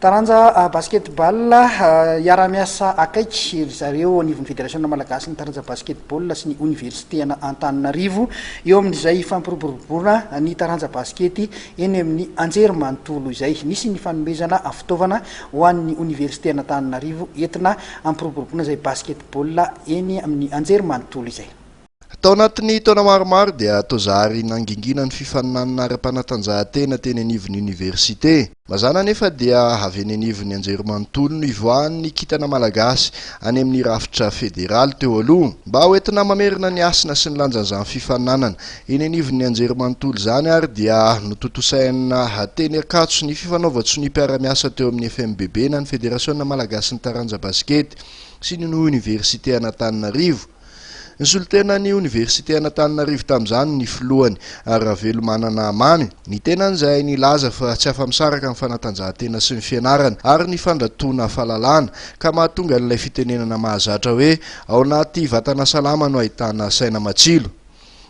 Taranja basket-ball hiara-miasa akaiky ry zareo anivon'ny Federasiona malagasin'ny taranja basket-ball sy ny oniversiten' Antananarivo eo amin'izay hifampiroboroboana ny taranja basikety eny amin'ny anjerimanontolo izay. Nisy ny fanomezana fitaovana ho an'ny oniversiten' Antananarivo entina hampiroboroboana izay basket-ball eny amin'ny anjerimanontolo izay. Tao anatin'ny taona maromaro dia toa zary nangingina ny fifaninanana ara-panatanjahantena teny anivon'ny oniversite. Mazàna anefa dia avy eny anivon'ny anjerimanontolo no ivoahan'ny ny kintana malagasy any amin'ny rafitra federaly teo aloha. Mba ho entina mamerina ny hasina sy ny lanjan'izany fifaninanana eny anivon'ny anjerimanontolo izany ary dia notontosaina teny Ankatso ny fifanaovan-tsoniam-piara-miasa teo amin'ny FMBB na ny Federasiona malagasin'ny taranja basikety sy ny oniversite an'Antananarivo Nisolotena ny Oniversite an'Antananarivo tamin'izany ny filohany, Ravelomanana Mamy, ny tenany izay nilaza fa tsy afa-misaraka amin'ny fanatanjahantena sy ny fianarana ary ny fandratoana fahalalana, ka mahatonga an'ilay fitenenana mahazatra hoe ao anaty vatana salama no ahitana saina matsilo.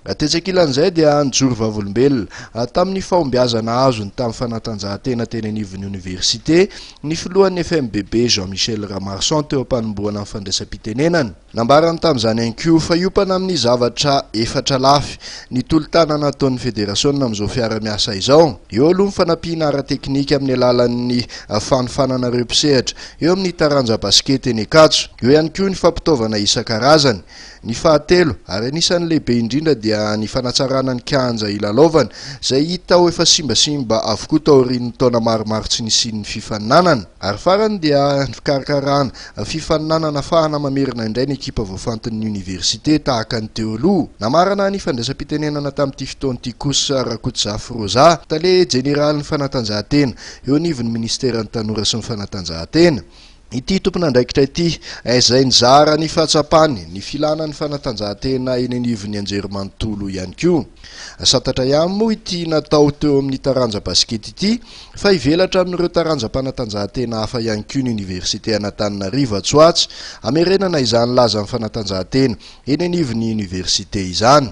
Tetsy ankilan'izay dia nijoro vavolombelona, tamin'ny fahombiazana azony tamin'ny fanatanjahantena teny anivon'ny Oniversite, ny filohan'ny FMBB, Jean Michel Ramarson teo am-panombohana ny fandraisam-pitenenana. Nambarany tamin'izany ihany koa fa hiompana amin'ny zavatra efatra lafy ny tolo-tanana ataon'ny federasiona amin'izao fiara-miasa izao. Eo aloha ny fanampiana ara-teknika amin'ny alalan'ny fanofanana ireo mpisehatra eo amin'ny taranja basikety eny Ankatso. Eo ihany koa ny fampitaovana isan-karazany. Ny fahatelo ary anisan'ny lehibe indrindra dia ny fanatsarana ny kianja hilalaovana izay hita ho efa simbasimba avokoa taorian'ny taona maromaro tsy nisian'ny fifaninanana. Ary farany dia ny fikarakarana Fifaninanana afahana mamerina indray ny ekipa voafantin'ny oniversite, tahaka ny teo aloha. Namarana ny fandraisam-pitenenana tamin'ity fotoana ity kosa Rakotozafy Rosa, tale jeneralin'ny fanatanjahantena, eo anivon'ny minisiteran'ny Tanora sy ny fanatanjahantena. Ity tompon'andraikitra ity, izay nizara ny fahatsapany ny filana ny fanatanjahantena eny anivon'ny anjerimanontolo ihany koa. Santatra ihany moa ity natao teo amin'ny taranja basikety ity, Fa hivelatra amin'ireo taranjam-panatanjahantena hafa ihany koa ny Oniversite an'Antananarivo atsy ho atsy, hamerenana izany lazan'ny fanatanjahantena eny anivon'ny Oniversite izany.